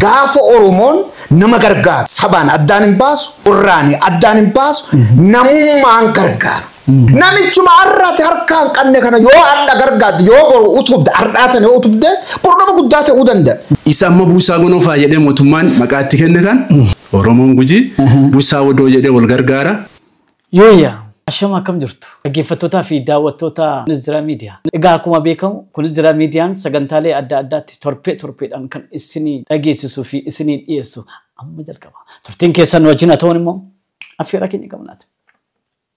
Gaafa Oromoon nama gargaaru sabaan addaan hin baasu, irraani addaan hin baasu, namummaan gargaara. Namichuma har'a ati harkaa hin qabne kana yoo hadha gargaartu, yoo boru utubde, har'aa tana yoo utubde, boru nama guddaa ta'uu danda'a. Isa amma buusaa gonofaa jedhee mootummaan maqaa itti kenne kan Oromoon Gujii buusaa wodoo jedhee wal gargaara. Yooyyaa! Ashama akkam jirtu? Dhaggeeffattoota fi daawwattoota Kunis Jira Media. Egaa akkuma beekamu Kunis Jira Median sagantaalee adda addaatti torbee torbeedhaan kan isinii dhageessisuu fi isinii dhiyeessu amma jalqaba. Turtiin keessan nu wajjin haa ta'uun immoo affeerraa keenya qabnaati.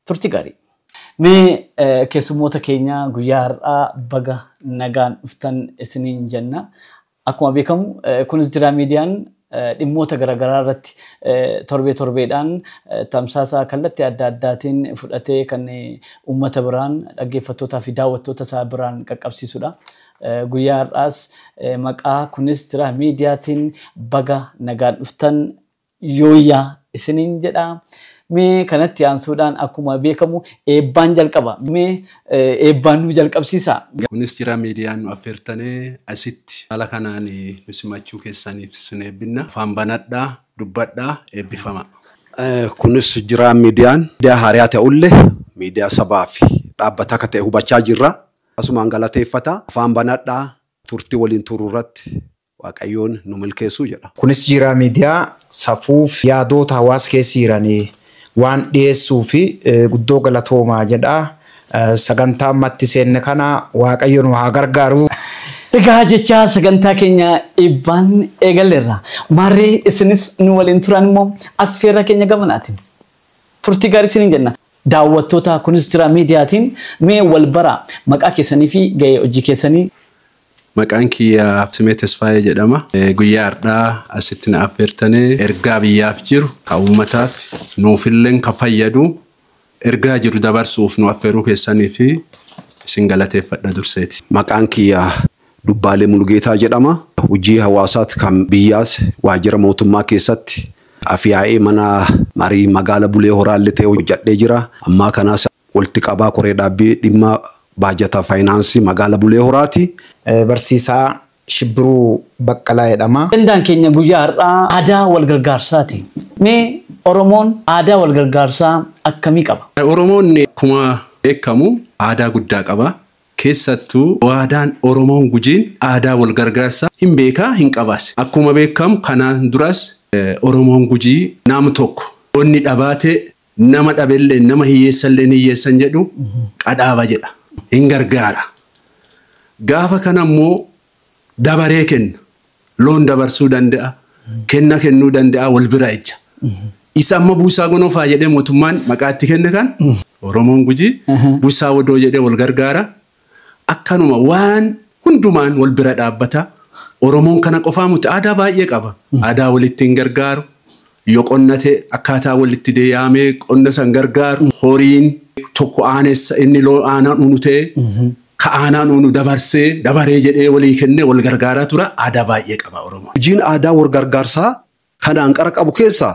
Turtii gaarii! Mee keessummoota keenya guyyaa har'aa baga nagaan dhuftan isiniin jenna. Akkuma beekamu Kunis Jiraa Miidiyaan dhimmoota garagaraa irratti torbee torbeedhaan tamsaasa kallattii adda addaatiin fudhatee kan uummata biraan, dhaggeeffattootaa fi daawwattoota isaa biraan qaqqabsiisudha. Guyyaa har'aas maqaa Kunis Jiraa Miidiyaatiin baga nagaan dhuftan! Yooyyaa! isiniin jedha. Mee kanatti aansuudhaan akkuma beekamu eebbaan jalqaba. Mee eebbaan nu jalqabsiisaa! Kunis jira miidiyaan nu affeertane asitti haala kanaan nu simachuu keessaniif isin eebbinna. Afaan banadhaa, dubbadhaa, eebbifamaa! Kunis jira miidiyaan miidiyaa haariyaa ta'ulle miidiyaa sabaa fi dhaabbata akka ta'e hubachaa jirra. Asumaan galateeffata. Afaan banadhaa, turtii waliin turru irratti Waaqayyoon nu milkeessuu jedha. Kunis jiiraa miidiyaa safuu fi yaadoota hawaasa keessa jiran waan dhiyeessuufi guddoo galatoomaa jedha. Sagantaa amma itti seenne kana Waaqayyo nu haa gargaaru. Egaa jechaa sagantaa keenya eebbaan eegalleerra. Maarree isinis nu waliin turaan immoo affeerraa keenya gamanaati. Turtii gaarii isiniin jenna. Daawwattoota Kunis Jiraa Miidiyaatiin mee wal baraa. Maqaa keessaniifi gahee hojii keessanii. Maqaan kiyya Simee Tesfaayee jedhama. Guyyaa hardhaa asitti na affeertani ergaa biyyaaf jiru ka uummataaf nuufilleen ka fayyadu ergaa jiru dabarsu'uuf nu affeeruu keessaniif isin galateeffadha durseeti. Maqaan kiyya Dubbaalee Mulugeetaa jedhama. Hujii hawaasaat kan biyyaas waajjira mootummaa keessatti Af-yaa'ee mana marii magaala Bulee Horaallee ta'ee hojjadhee jira. Ammaa kanaas Walitti Qabaa Koree Dhaabbii Dhimma Baajata Faayinaansii Magaala Bulee Horaati. Barsiisaa Shibbiruu Baqqalaa jedhama. Ajandaan keenya guyyaa har'aa aadaa wal gargaarsaati. Mee Oromoon aadaa wal gargaarsaa akkamii qaba? Oromoon akkuma beekamu aadaa guddaa qaba. Keessattuu aadaan Oromoon Gujiin aadaa wal gargaarsaa hin beeka, hin qabaas. Akkuma beekamu kanaan duras Oromoon Gujii nam tokko yoo inni dhabaate, Nama dhabelleen, nama hiyyeessalleen hiyyeessan jedhu qadhaaba jedha. Hin gargaara. Gaafa kana immoo dabaree kenna. Loon dabarsuu danda'a. Kenna kennuu danda'a. Wal bira ejja. Isa amma buusaa gonofaa jedhee mootummaan maqaa itti kenne kan Oromoon Gujii buusaa wodoo jedhee wal gargaara. Akkanuma waan hundumaan wal bira dhaabbata. Oromoon kana qofaa muti aadaa baay'ee qaba. Aadaa walitti hin gargaaru. Yoo qonna ta'e akkaataa walitti de yaamee qonna san gargaaru. Horiin tokko aanessa inni loo aanaan unu ta'e ka aanaan unu dabarsee dabaree jedhee walii kennee wal gargaaraa tura. Aadaa baay'ee qaba Oromoon. Hojiin aadaa wal gargaarsaa kan anqara qabu keessaa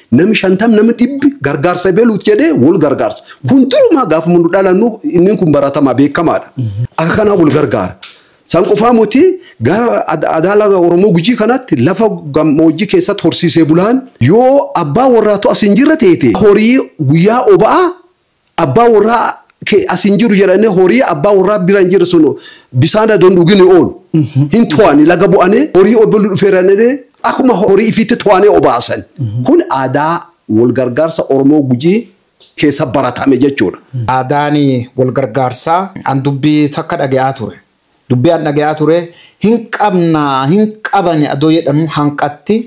Nami shantam nami dhibbi gargaarsa ebeluut jedhee wol gargaarsa. Kun durumaa gaafa mundu dhalannu inni kun baratamaa beekamaadha. Akka kanaa wol gargaara. San qofaa muti gara ad- adaala Oromoo Gujii kanatti lafa gammoojjii keessatti horsiisee bulaan yoo abbaa warraatu as hin jirre teete horii guyyaa oba'aa Abbaa warraa kee as hin jiru jedhanii horii abbaa warraa bira hin jirre sun bisaan adoo hin dhugini oolu. Hin to'ani laga bu'anii horii obbolli dhufeera jedhanii akkuma horii ifiitti to'anii obaasan. Kun aadaa wal gargaarsa Oromoo Gujii keessa baratame jechuudha. Aadaan wal gargaarsaa an dubbii takka dhage'aa ture. Dubbii an dhage'aa ture hin qabnaa hin qabani adoo jedhanuu hanqatti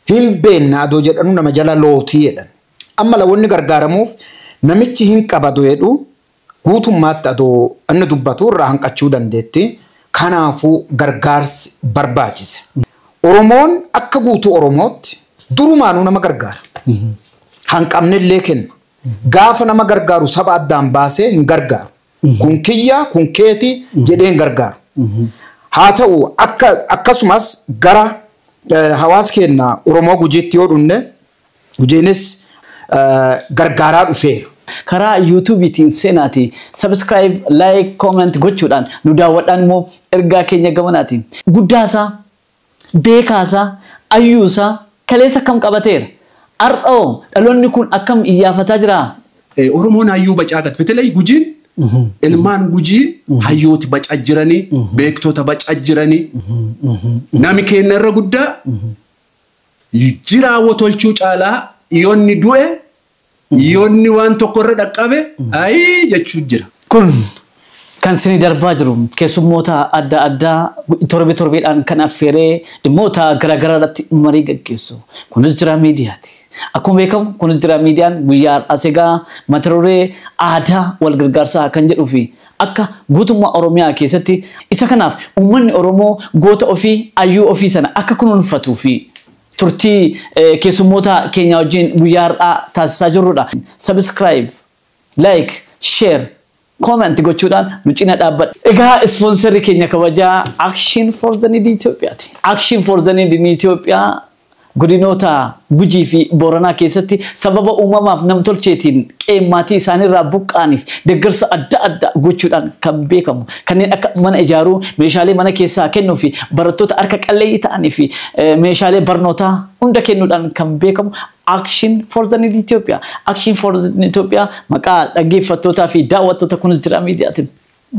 Hin beenna adoo jedhanuu nama jala lootii jedhan. Amma la wonni gargaaramuuf namichi hin qaba adoo jedhu guutummaatti adoo inni dubbatu irraa hanqachuu dandeetti. Kanaafuu gargaarsi barbaachisa. Oromoon akka guutuu Oromootti durumaanuu nama gargaara. Hanqabnellee kenna. Gaafa nama gargaaru saba addaan baasee hin gargaaru. kun kiyya kun keeti jedhee hin gargaaru. Haa ta'u akka akkasumas gara eh, hawaasa keenya Oromoo Gujiitti yoo dhufne Gujiinis eh, gargaaraa dhufeera. karaa yuutuubiitiin seenaati sabiskiraayib laayik kooment gochuudhaan nu daawwadhaan immoo ergaa keenya gamanaatiin guddaasaa Beekaa isaa, ayyuu isaa, kaleessa akkam qabateera? Har'a hoo dhaloonni kun akkam iyyaafataa jiraa? Oromoon hayyuu bacaa gad betelay gujiin ilmaan gujii hayyooti baca jiranii beektota baca jiranii nami keenna irra guddaa jiraa wotolchuu caalaa yonni du'e Yoo inni waan tokko irra dhaqqabe ayii jechuu jira. Kun kan isinii darbaa jiru keessummoota adda addaa torbee torbeedhaan kan affeeree dhimmoota gara garaa irratti marii gaggeessu. Kunis Jiraa Miidiyaati. Akkuma beekamu Kunis Jiraa Miidiyaan guyyaa har'aas egaa mata duree aadaa wal gargaarsaa kan jedhuu fi akka guutummaa Oromiyaa keessatti isa kanaaf uummanni Oromoo goota ofii, hayyuu ofii sana akka kunuunfatuu fi turtii keessummoota keenyaa wajjin guyyaa har'aa taasisaa jirrudha. Subscribe, like, share, comment gochuudhaan nu cina dhaabbadha. Egaa ispoonserri keenya kabajaa Action for the Need Ethiopia ti. Action for the Need in Ethiopia godinoota Gujii fi Booranaa keessatti sababa uumamaaf namtolcheetiin qe'ee maatii isaaniirraa buqqa'aniif deeggarsa adda addaa gochuudhaan kan beekamu. Kanneen akka mana ijaaruu, meeshaalee mana keessaa kennuu fi barattoota harka qalleeyyii ta'anii fi meeshaalee barnootaa hunda kennuudhaan kan beekamu Action for the Need Ethiopia. Action for the Need Ethiopia maqaa dhaggeeffattootaa fi daawwattoota Kunis Jira Miidiyaatiin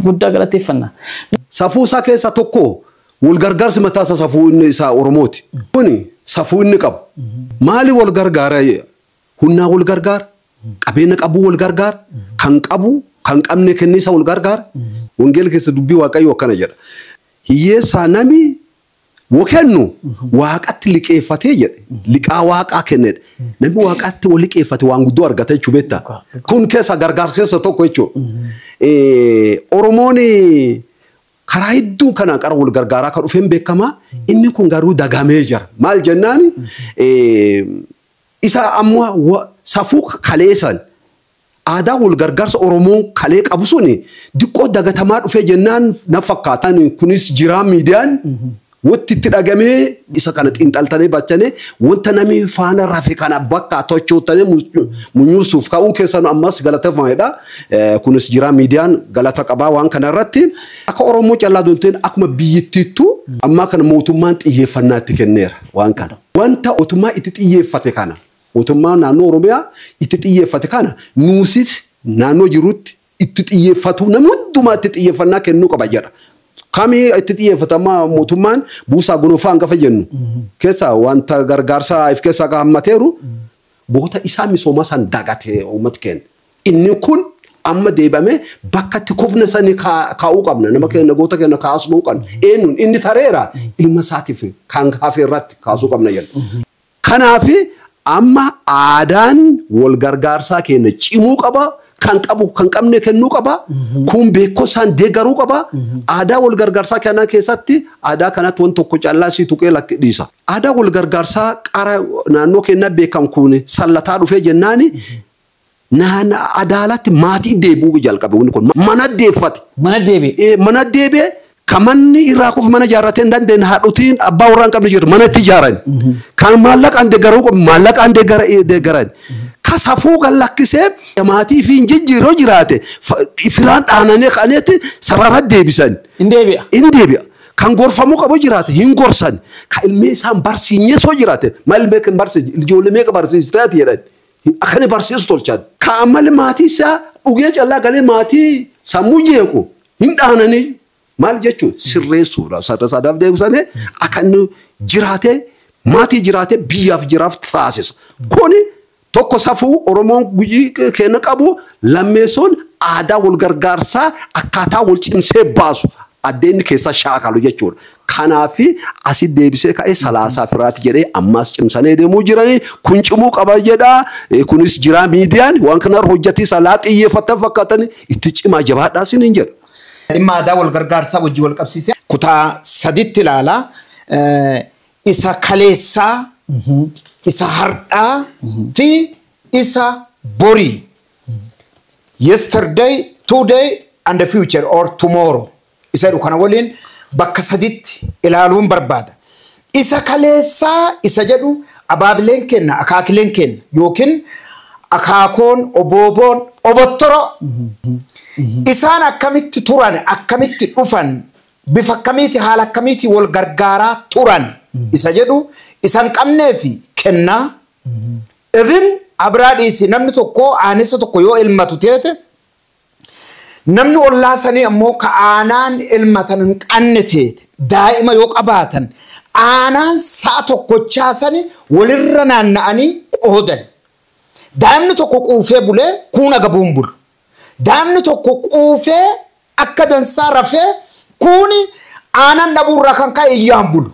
guddaa galateeffanna. Safuu isaa keessaa tokko wal gargaarsi mataa isaa safuu inni isaa Oromooti. Kuni safuu inni qabu. Maali wal gargaara Hunnaa wal gargaara, qabeena qabuu wal gargaara, kan qabu kan qabne kenniisa wal gargaara. Wangeela keessa dubbii Waaqayyoo akkana jedha. Hiyyeessaa nami wa kennu Waaqatti liqeeffatee jedhe. Liqaa Waaqaa kenne jedhe. Namni Waaqatti wa liqeeffate waan guddoo argata jechuu beekta. Kun keessa gargaarsa keessa tokko jechuudha. Oromoon karaa hedduu kana qara wal gargaaraa akka dhufeen beekama. Inni kun garuu dagamee jira. Maal jennaan Isa amma safuu kalee san aadaa wal gargaarsa Oromoon kalee qabu suni diqqoo dagatamaa dhufee jennaan na fakkaata. Kunis jiraa miidiyaan wotti itti dhagamee isa kana xiinxaltanee bachanee wanta nami faana rafe kana bakkaa tochootanee munyuursuuf ka'uun keessanu ammas galatafamaidha. Kunis jiraa miidiyaan galata qabaa waan kana irratti. Akka Oromoo callaa odoo hin ta'in akkuma biyyittiittuu ammaa kana mootummaan xiyyeeffannaa itti kenneera waan kana. Wanta otummaa itti xiyyeeffate kana, otummaan naannoo Oromiyaa itti xiyyeeffate kana nuusis naannoo jirrutti itti xiyyeeffatuu namni hundumaa itti xiyyeeffannaa kennuu qaba jedha. Kami itti xiyyeeffata amma mootummaan buusaa gonofaa hangafa jennu keessa wanta gargaarsaa if keessaa hammateeru goota isaa misoomaa san dagate uummati keenya. Inni kun amma deebamee bakka itti kufne sani kaa'uu qabna. Nama keenya goota keenya kaasuu qabna. Eenyuun inni tareera ilma isaatiif kan hafe irratti kaasuu qabna jenna. Kanaaf amma aadaan wal gargaarsaa keenya cimuu qaba. Kan qabu kan qabne kennuu qaba. Kun beekumsaan deeggaruu qaba. Aadaa wal gargaarsaa kana keessatti aadaa kanatti waan tokko callaa sii tuqee lakki dhiisa. Aadaa wal gargaarsaa qara naannoo keenyaa beekan kun sallataa dhufee jennaani Nahan adaalatti maatii deebi'uu jalqabe wanni kun. Mana deeffate. Mana deebi'e. Ee, mana deebi'e kan manni irraa kufu mana ijaarratee hin dandeenye haadhotiin abbaa warraa hin qabne jirtu mana itti ijaaran. Kan maallaqaan deeggaruu qabu maallaqaan deeggara- eh, deeggaran. Ka safuu kan lakkisee maatii fi hin jijjiiroo jiraate fa- firaan dhaananee kaneetti sarara deebisan. Hin deebi'a. Hin deebi'a. Kan gorfamuu qabu jiraate hin gorsan. Kan ilmee isaan barsiinyee soo jiraate maal ilmee kan barsiise ijoollee meeqa barsiisteeti jedhan. Akani barsiisu tolchani. Ka ammalle maati isaa d'uge ch'allaa gale maati sammu jeekhu ind'aananiyu. Maal jechuun sirreessuudha. Sarda saadaaf deebisanii akka inni jiraatee maatii jiraatee biyyaaf jiraaf taasisa. Kuni tokko safuu Oromoon guyyii keenya qabu lammeessoon aadaa wal gargaarsaa akkaataa wal cimsee baasu addeenni keessaa shaakalu jechuudha. Kanaafi asi deebisee ka'e salaasaa firaati jedhee ammaas cimsanee deemuu jiranii kun cimuu qaba jedhaa kunis jiraa miidiyaan waan kanarra hojjatii salaa xiyyeeffattan fakkaatani itti cimaa jabaadhaa sinin jedha. Dhimma aadaa wal gargaarsaa wajjin wal qabsiisee kutaa saditti ilaala. Isa kaleessaa, isa hardhaa fi isa borii, yesterday, today and future or tomorrow. isa jedhu kana waliin bakka sadiitti ilaaluun barbaada. Isa kaleessaa isa jedhu abaabileen keenna, akaakileen keenna yookiin akaakoon, obooboon, obottoro isaan akkamitti turan, akkamitti dhufan, bifa akkamiiti, haala akkamiitiin wal gargaaraa turan isa jedhu isa hin qabneefi kenna. Even abraa dhiisi namni tokko aanessa tokko yoo elmatu teete Namni ollaa sanii ammoo ka aanaan elmatan hin qanne teete daa'ima yoo qabaatan aanaan sa'a tokkochaa sani walirra naanna'anii qoodan. Daa'imni tokko quufee bulee kuun agabuu hin bulu. Daa'imni tokko quufee akka dansaa rafee kuuni aanan dhabuurraa kan ka'e iyyaa hin bulu.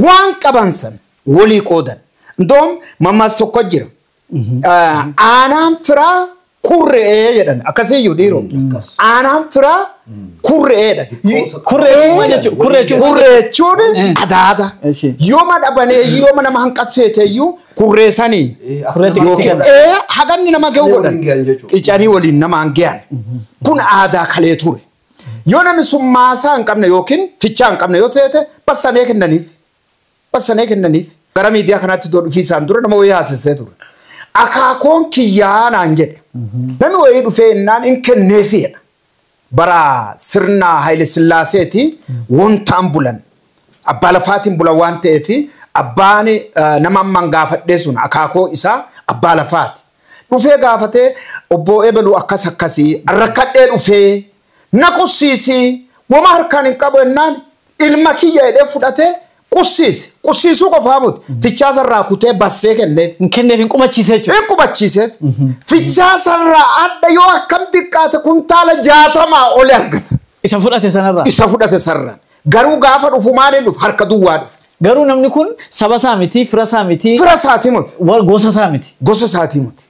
Waan qaban san walii qoodan. Indoom mammaas tokko jira. aanaan firaa kurre'ee jedhan akkasiyyuu dhiiroo aanaan firaa kurre'eedha. Kurree jechuun maal jechuudha? Kurree jechuun maal Kurree jechuun adaada. Eshi. Yooma dhabanee yooma nama hanqatteeteyyuu kurree sanii Kurree xiqqaa yookiin kana. ee haganni nama ga'u godhan Waliin ga'an jechuudha. qicanii waliin namaan ga'an. Kun aadaa kalee ture. Yoo namni sun maasaa hin qabne yookiin fichaa hin qabne yoo ta'e bassanee kennaniif. Bassanee kennaniif. Gara miidiyaa kanaatti doo dhufiisaan dura nama wayii haasessee ture. Akaakoon kiyyaa naan jedhe. Namni wayii dhufee innaan in kenneefi jedha. Bara sirna Hayile Sillaaseeti wontaan bulan. Abbaa lafaatiin bulan waan ta'eef abbaan nama amman gaafadhee sun akaakoo isaa abbaa lafaati. Dhufee gaafatee obboo ebaluu akkas akkasi rakkadhee dhufee Na qussiisi, woma harkaan hin qabu ennaan ilma kiyya jedhee fudhatee qussiise. Qussiisuu qofaa moti, fichaasarraa kutee bassee kenneef. Hin kenneef hin qubachiise jechuudha. Hin qubachiiseef. Fichaasarraa adda yoo akkam xiqqaate kuntaala jaatamaa oli argata. Isa fudhate sanarraa. Isa fudhate sanarraa. Garuu gaafa dhufu maaliin dhufe? Harka duwwaa dhufe. Garuu namni kun saba isaa miti, fira isaa miti, Fira isaatii miti. wa- gosa isaa miti. Gosa isaatii miti.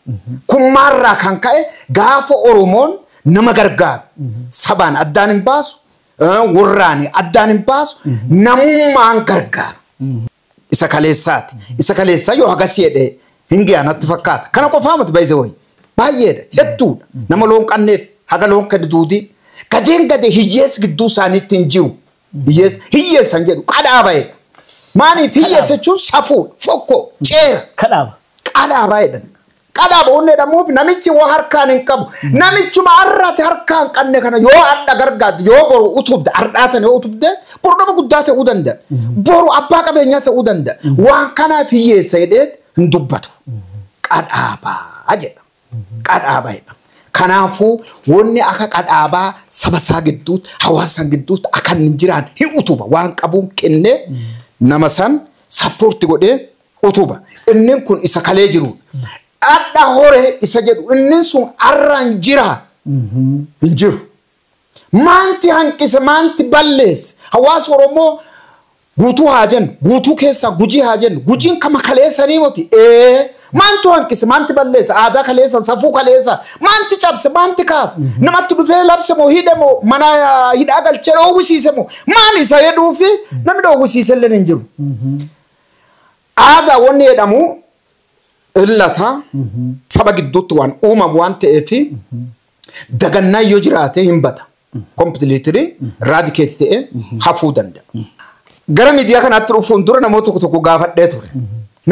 Kun maalirraa kan ka'e gaafa Oromoon nama gargaaru sabaan addaan hin baasu, eh, warraan addaan hin baasu, namummaan gargaaru. Isa kaleessaati. Isa kaleessaa yoo hagasii jedhee hin giyaa natti fakkaata. Kana qofaa miti baay'ee wayii. Baay'eedha. Hedduudha. Nama loon qanneef haga loon kenni duudii. Gadeen gadee hiyyeessi gidduu isaaniitti hin jiru. Hiyyeessi hiyyeessan jedhu qadhaa baheedha. Maaliif hiyyeessa jechuun safuudha. Fokkoo ceera. Kadhaaba. Qadhaa baheedha. Qadhaa boonnee dhammuuf namichi woo harkaan hin qabu. Namichuma har'a ati harkaa hin qabne kana yoo hadha gargaarde, yoo boru utubde, hardhaa sana yoo utubde, boru nama guddaa ta'uu danda'a. Boru abbaa qabeenyaa ta'uu danda'a. Waan kanaaf hiyyeessa jedhee hin dubbatu. Qadhaabaa jedha. Qadhaabaa jedha. Kanaafuu wanni akka qadhaabaa saba isaa gidduutti, hawaasa isaa gidduutti akka hin jiraanne hin utuba. Waan qabuun kennee nama san sappoorti godhee utuba. Innin kun isa kalee jiruudha. Dhadha horee isa jedhu innin sun arraan jira hin jiru. Maanti hanqise maanti balleesse hawaasa Oromoo guutuu haa jennu guutuu keessaa gujii haa jennu gujiin kama kaleessanii moti ee maantu hanqise maanti balleesse aadaa kaleessa safuu kaleessa maanti cabse maanti kaase namatti dhufee labse moo hidhe moo mana ah, hidhaa galchee dhoowwisiise moo maal isa jedhuu fi namni dhoowwisiise illee hin jiru. Aadaa wanni jedhamu illata saba gidduutti waan uumamu waan ta'eef dagannaan yoo jiraate hin bada. Kompiliitirii raadikeeti ta'ee hafuu danda'a. Gara miidiyaa kanaatti dhufuun dura namoota tokko tokko gaafadhee ture.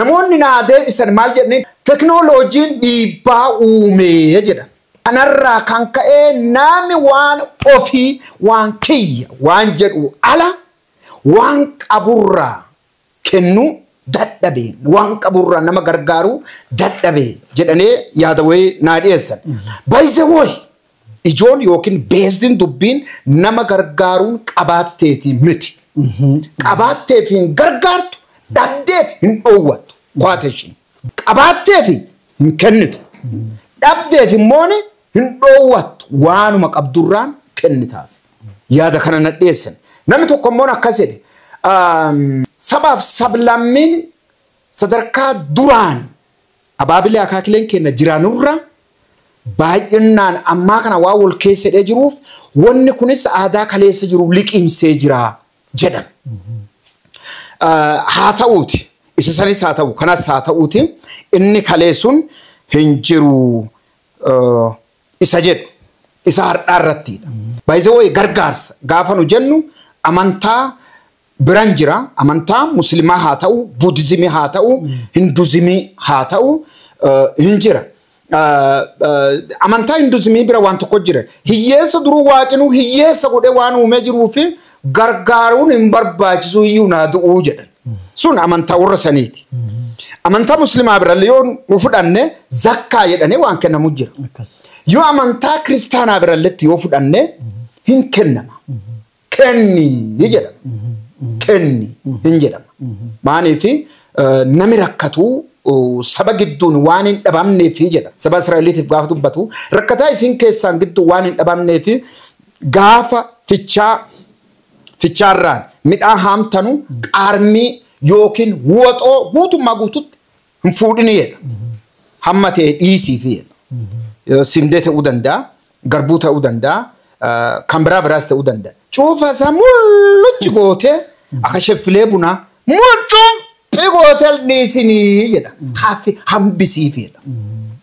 Namoonni naa deebisan maal jedhanii teknooloojiin dhiibbaa uumee jedhan. Kanarraa kan ka'ee nami waan ofii waan kiyya waan jedhu ala Waan qaburraa kennuu dadhabe, waan qaburraa nama gargaaruu dadhabe jedhanee yaada wayii naa dhiyeessan. By the way, ijoon yookiin beesdiin dubbiin nama gargaaruun qabaatteefi miti. Qabaatteef hin gargaartu, dhabdeef hin dhoowwattu. Quotation. Qabaatteef hin kennitu, dhabdeef immoo hin dhoowwattu waanuma qabdurraan kennitaafi. yaada kana na dhiyeessan. Namni tokko immoo akkas jedhe sabaaf sablammiin sadarkaa duraan abaabilee akaakileen keenya jiraanurra baay'inaan ammaa kana waan wal keessa hidhee jiruuf wanni kunis aadaa kaleessa jiru liqimsee jira jedhan. Haa ta'uuti isa sanis haa ta'u kanas haa ta'uuti inni kaleessuun hin jiru. isa jedhu isa hardhaa irrattiidha. By the way gargaarsa gaafa nu jennu amantaa biran jira amantaa muslimaa haa ta'u budizimii haa ta'u hinduzimii haa ta'u hin jira. Amantaa hinduzimii bira waan tokko jira hiyyeessa duruu waaqinuu hiyyeessa godhee waan uumee jiruu fi gargaaruun hin barbaachisu iyyuu naa du'uu jedhan. Sun amantaa warra saniiti. Amantaa muslimaa birallee yoo nu fudhanne zakkaa jedhanii waan kennamu jira. Akkas. Yoo amantaa kiristaanaa biralletti yoo fudhanne hin kennama. Kenni ni jedhama. Kenni hin jedhama. Maaliif nami rakkatu uh, saba gidduun waan hin dhabamneef jedha. Saba Israa'eliitiif gaafa dubbatu rakkataa isin keessaan gidduu waan hin dhabamneef gaafa fichaa fichaarraan midhaan haamtanu qaarmii yookiin woxoo guutummaa guututti hin fuudhini jedha. Hamma ta'e dhiisiifi jedha. Yoo Sindee ta'uu danda'a, garbuu ta'uu danda'a, ah, kan biraa biraas ta'uu danda'a. Cuufa isaa mullucci gootee akka sheffilee bunaa mullucci gootee dhiisinii jedha. Haaffi hambisiifi jedha.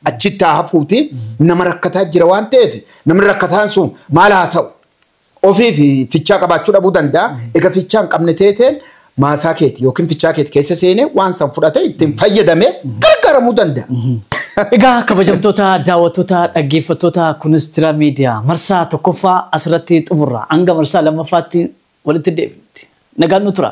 Achitti haa hafuuti nama rakkataa jira waan ta'eef namni rakkataan sun maal haa ta'u? Ofiif fichaa qabaachuu dhabuu danda'a. Ega fichaa hin qabne teeteen maasaa keeti yookiin fichaa keeti keessa seenee waan san fudhatee ittiin fayyadamee gargaaramuu danda'a. Egaa kabajamtoota daawwattoota dhaggeeffattoota kunis jira miidiyaa marsaa tokkoffaa asirratti xumurra hanga marsaa lammaffaatti walitti deebinutti nagaan nu tura.